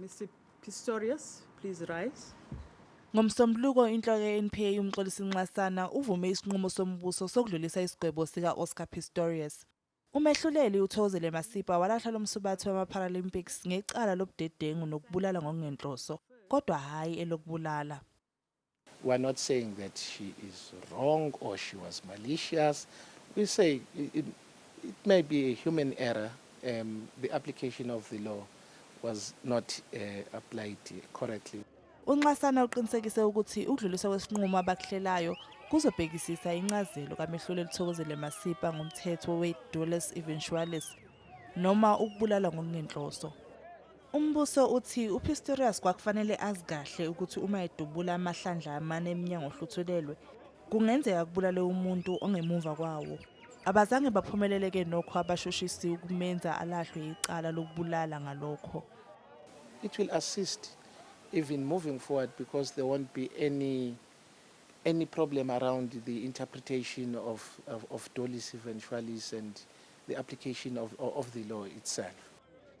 Mr. Pistorius, please rise. Ngomsombuluko inhloko ye-NPA uMxolisi Nxasana uvume isinqumo sombuso sokudlulisa isigwebo sika-Oscar Pistorius. Umehluleli uThokozile Masipa walahla lo msubathi wama-Paralympics ngecala lobudedengu nokubulala ngokungenhloso, kodwa hhayi elokubulala. We are not saying that she is wrong or she was malicious. We say it, it may be a human error. Um, the application of the law was not uh, applied correctly. UNxasana uqinisekise ukuthi ukudluliswa kwesinqumo abakuhlelayo kuzobhekisisa incazelo kamehluleli Thokozele Masipa ngomthetho we-dolus eventualis noma ukubulala ngokungenhloso. Umbuso uthi uPistorius kwakufanele azi kahle ukuthi uma edubula amahlandla amane emnyango ohluthulelwe kungenzeka kubulale umuntu ongemumva kwawo. Abazange baphumeleleke nokho abashushisi ukumenza alahlwe icala lokubulala ngalokho. It will assist even moving forward because there won't be any any problem around the interpretation of, of, of dolis eventualis and the application of, of the law itself.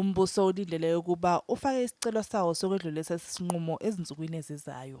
Umbuso ulindeleke ukuba ufake isicelo sawo sokwedlulisa lesi sinqumo ezinsukwini ezizayo.